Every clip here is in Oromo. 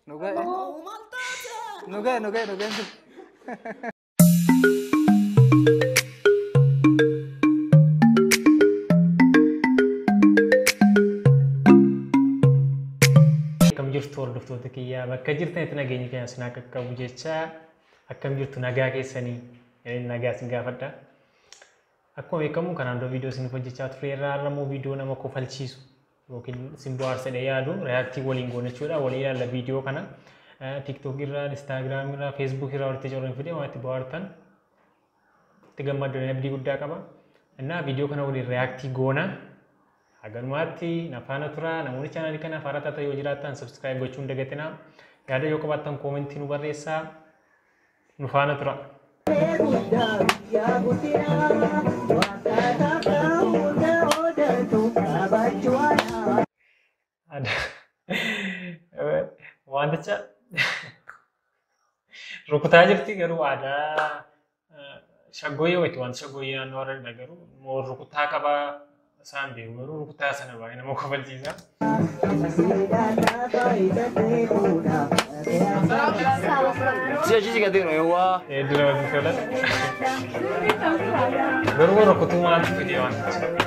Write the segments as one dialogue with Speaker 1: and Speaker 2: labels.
Speaker 1: Nu ga'e. Nu ga'e nu ga'e nu ga'e. Akkam jirtu hordoftoota kiyyaa bakka jirtanitti nageenyi keenya isin haa qaqqabu jecha akkam jirtu nagaa keessanii eh, nagaa isin gaafadha. Akkuma beekamu kanaan dura viidiyoo isin hojjechaa turre irraa har'a immoo viidiyoo nama kofalchiisu yookiin simboo aarsedha yaadu reaaktii waliin goona jechuudha walii ilaalla viidiyoo kana tiktok irraa instaagiraam irraa feesbuuk irraa walitti correen fidee waan itti bohaartan itti gammaddan abdii guddaa qaba innaa viidiyoo kana waliin reaaktii goona haganumaatti nafaana tura namoonni chaanaalii kanaaf haaraa taatan yoo jiraattan sabskiraayib gochuun dagatinaa yaada yoo qabaattan koomentii nu barreessaa nu faana tura. Wanticha rukutaa jirti garuu aadaa shaggooyyee wayitu wanta shaggooyyee naannoo warra garuu moo rukutaa qabaa Isaan beeku garuu rukuttaa sana baay'ee nama kofalchiisa.
Speaker 2: Si achi si gateeru yawwaa. Hedduu namatti tola.
Speaker 1: Garuu rukutuu maaltu fidee waan ta'eef.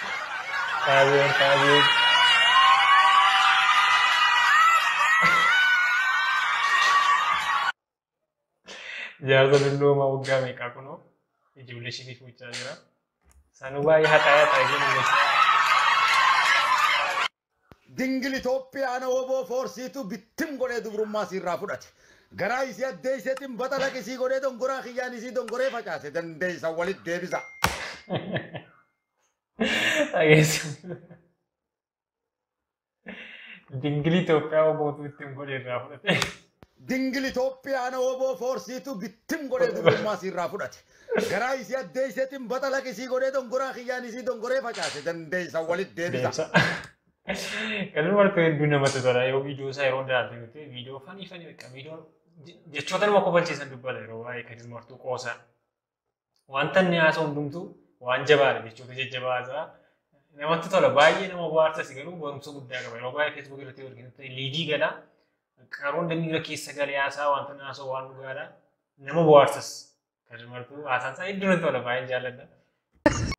Speaker 1: Faabiyoon Faabiyoon. Jaarsa dulloomaa waggaa meeqaa kunoo ijoollee ishiitii fuuchaa jira. Sanuu baay'ee haxaa haxaa ijoollee.
Speaker 3: Dingil Itoophiyaan woboo foorsiitu bittim godhee dubrummaa siirraa fudhate. Garaa isii addeesseetiin baxalaq isii godhee dongoraa kiyyaan isii dongoree facaase dandeessa walit deebisa. Dhageessu.
Speaker 1: Dingili Itoophiyaa obootu ittiin godhe irraa fudhate. Dingil
Speaker 3: Itoophiyaan oboo foorsiitu bittim godhee dubrummaa isiirraa fudhate. Garaa isii addeesseetiin baxalaq isii godhee dongoraa kiyyaan isii dongoree facaase dandeessa walit deebisa. Deebisa.
Speaker 1: Kan martuu hedduu namatti tola. Yoo viidiyoo isaa yeroo hundaa arginu ta'e viidiyoo fanii fanii beekaa viidiyoo jechoota nama kofalchiisan dubbata yeroo waa'ee kan martuu qoosaa. Wanta inni haasa'u hundumtuu waan jabaadha jechuudha jajjabaa haasa'a. Namatti tola baay'ee nama bohaarsas garuu barumsa guddaa qaba. Yeroo baay'ee feesbuuk irratti yoo arginu liidii gala. Qaroon dambii irra keessa galee haasa'a wanta inni haasa'u waan dhugaadha. Nama bohaarsas. Kan martuu haasaan isaa hedduu natti tola baay'een jaalladha.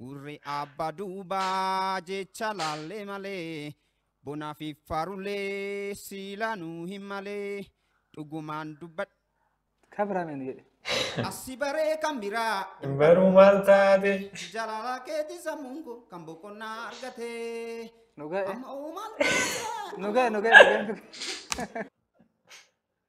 Speaker 2: Gurri abbaa duubaa jecha laallee malee bonaa fi faarulee siilaa nuu hin malee dhugumaan dubbadha. Kabraameen
Speaker 1: jedhe. Assi baree
Speaker 2: kan biraa Hin baruu maal
Speaker 1: taate? jalaala keetii
Speaker 2: sammuun koo kan boqonnaa argate. Dhugaa eh.
Speaker 1: Amma uumaan
Speaker 2: Dhugaa dhugaa
Speaker 1: dhugaa.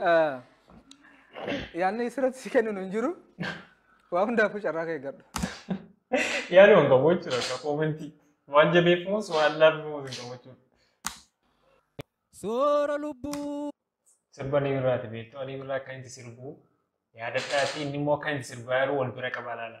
Speaker 4: Ah, Yaanni sirratti si kennu hin jiru. Waa hundaafuu carraa kee eeggadhu.
Speaker 1: Yaaduma hin qabu jechuudha akka koomentii. Waan jabeeffamus waan laaffamus hin qabu jechuudha. Soora
Speaker 5: lubbuu. Sirba ni
Speaker 1: birraati beektu ani birraa akka inni sirbu yaadadhaatii inni immoo akka inni sirbaa yeroo wal bira qabaa laala.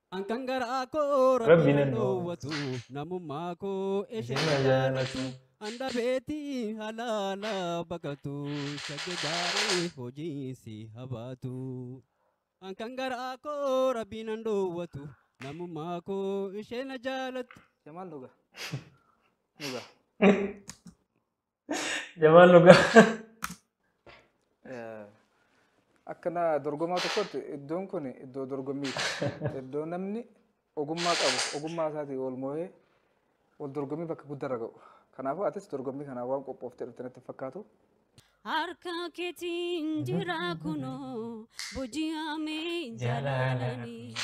Speaker 5: An kan garaa koo Rabbi rabbi nan nan dhoowwatu namummaa koo ishee Ishee na na jaalatu jaalatu. an dhabeetii halaala baqatu shagge gaarii hojiin si habaatu. An kan garaa koo rabbi nan dhoowwatu namummaa koo ishee na jaalatu. Jamaal dhugaa.
Speaker 4: Dhugaa.
Speaker 1: Jamaan dhugaa.
Speaker 4: Akka na dorgomaa tokkotti iddoon kun iddoo dorgommiiti. Iddoo namni ogummaa qabu ogummaa isaatiin wal moo'ee wal dorgommii bakka guddaarra ga'u. Kanaafuu atis dorgommii kanaaf waan qophooftee dhufte natti hin fakkaatu. Harka
Speaker 6: keetiin jira kunoo boji'amee jaalalani.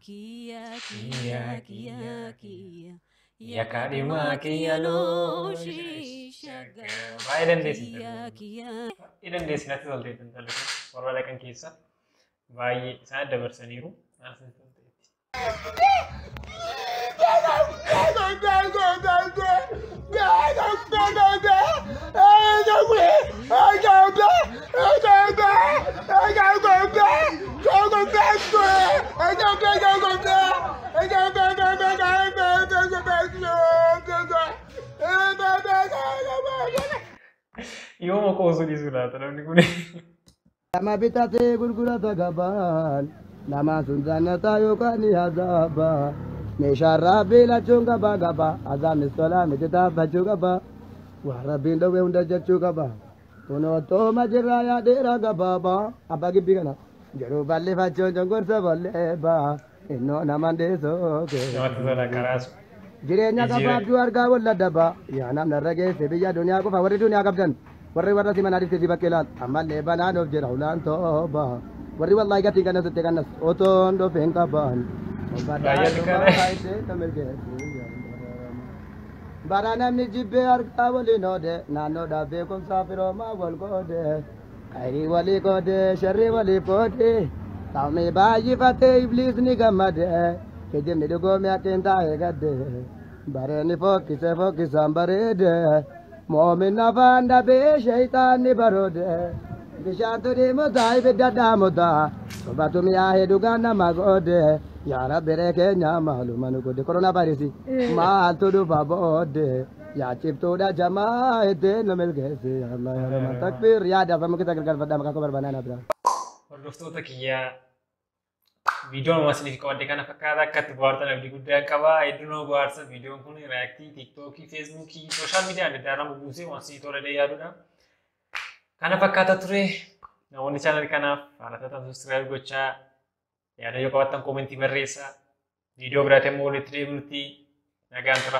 Speaker 6: Kiyya kiyya kiyya kiyya Ya kadhima
Speaker 1: kiya lo shishaga. Baay'ee dandeessi. Kiya kiya. Baay'ee dandeessi natti tolte intalli kun warra dhaqan keessa baay'ee isaan dabarsaniiru. Natti tolteetti. Thank you. Yooma qoosuu dhiisuu laata namni kun. Nama
Speaker 7: bitatee gurgurata gabaan nama sun jannataa yookaan ni azaaba. Meeshaan rabbii lachuun gaba gaba azaabnis tolaa miti taabbachuu gaba. Waan rabbiin dhowwe hunda jechuu gaba. Kunoo tooma jirraa yaa dheeraa gabaabaa abbaa gibbii kana. Jiruu bal'ifachuun cunqursa bal'eebaa innoo naman dhiisuu kee. Namatti tola karaasu.
Speaker 1: Jireenya Jijjiiree.
Speaker 7: gabaabduu argaa wal dadhabaa yaa namni irra geesse biyya duniyaa qofa warri duniyaa qabdan warri warra si manaa dhiftee si bakkee laal ammallee banaan of jira ulaan tooba warri wallaahi gatiin kanna suttee kannas otoon dhufeen qabaan. Baay'ee xiqqaadha. Bara namni jibbee harkaa waliin oode naannoodhaaf beekumsaa firoomaa wal qoode. Khayrii walii qoode sharrii waliif qoode. Ta'umii baay'ifatee ibliisni gammade. Kijibni dhugoomee haqqiin taa'ee gadde. Bareenni fokkise fokkisaan bareede. Moomin afaan dhabee sheeyxaanni baroode bishaantu dhiimutaa ibidda dhaamuta sobatu mi'aahee dhugaan nama goode yaa rabbi ree keenya maaluma nu godhe korona vaayirasi maaltu dhufa boode yaa ciftuudha jamaa ittiin nu milkeessi yaa allah yaa rahman takbiir yaa dafa mukisa gargaarfadhaa maqaa koo barbaanaa naa biraa. Hordoftoota
Speaker 1: kiyyaa Viidiyoon waan isiniif qabadde kana fakkaata akka itti bohaartan abdii guddaa qaba. Hedduu nama bohaarsa viidiyoon kun reaaktii tiiktookii, feesbuukii, sooshaal miidiyaa adda addaa nama buusee waan isinii tola jedhee yaadudha. Kana fakkaata ture namoonni chaanal kanaaf haala taatan subscribe gochaa yaada yoo qabaattan koomentii barreessaa. Viidiyoo biraatiin immoo walitti deebinutti nagaan tura.